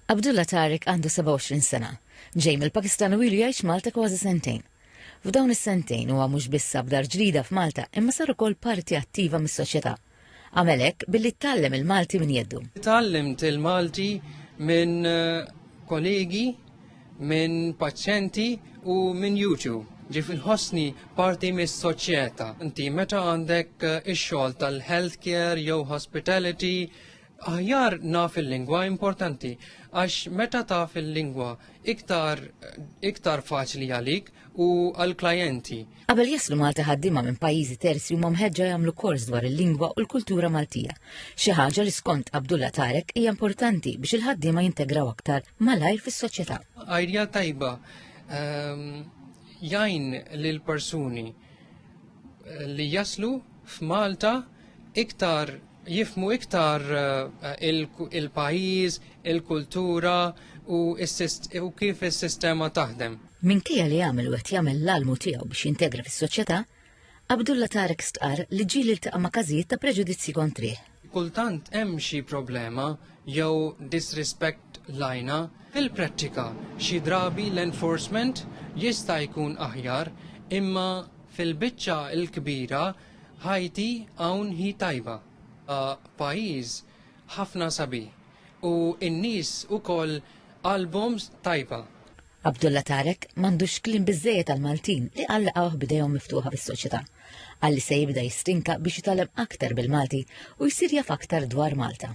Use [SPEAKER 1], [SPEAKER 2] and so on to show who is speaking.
[SPEAKER 1] Abdullah Tariq għandu 27 sena. Ġej mill-Pakistan u ilu jgħix Malta kważi sentejn. F'dawn is-sentejn huwa mhux biss sab dar ġdida f'Malta imma sar ukoll parti attiva mis-soċjetà. Għamel hekk billi tgħallem il-Malti minn jeddu. Tgħallimt il-Malti
[SPEAKER 2] minn kollegi, minn paċjenti u minn YouTube. Ġif inħossni parti mis-soċjetà. Inti meta għandek ix-xogħol tal-healthcare jew hospitality, Aħjar naf il-lingwa importanti għax meta taf il-lingwa iktar iktar faċli għalik u għall-klijenti. Qabel jaslu
[SPEAKER 1] Malta ħaddiema minn pajjiżi terzi huma mħeġġa jagħmlu kors dwar il-lingwa u l-kultura Maltija. Xi ħaġa li skont Abdullah Tarek hija importanti biex il-ħaddiema jintegraw aktar malajr fis-soċjetà. Idea tajba
[SPEAKER 2] ehm, jgħin lil persuni eh, li jaslu f'Malta iktar jifhmu iktar il-pajjiż, il-kultura u kif is-sistema taħdem. Minkejja li għamel
[SPEAKER 1] u qed jagħmel l-almu tiegħu biex jintegra fis-soċjetà, Abdullah Tarek stqarr li ġieli ltaqa' ma' każijiet ta' preġudizzji kontrih. Kultant hemm
[SPEAKER 2] xi problema jew disrispett lajna. Fil-prattika, xi drabi l-enforcement jista' jkun aħjar imma fil-biċċa l-kbira Ħajti hawn hi tajba, pajjiż ħafna sabi u n-nies ukoll qalbhom tajba. Abdullah
[SPEAKER 1] Tarek m'għandux kliem biżżejjed għall-Maltin li Alla laqgħuh b'idejhom miftuħa bis-soċjetà. Qal li se jibda jistinka biex jitgħallem aktar bil-Malti u jsir jaf aktar dwar Malta.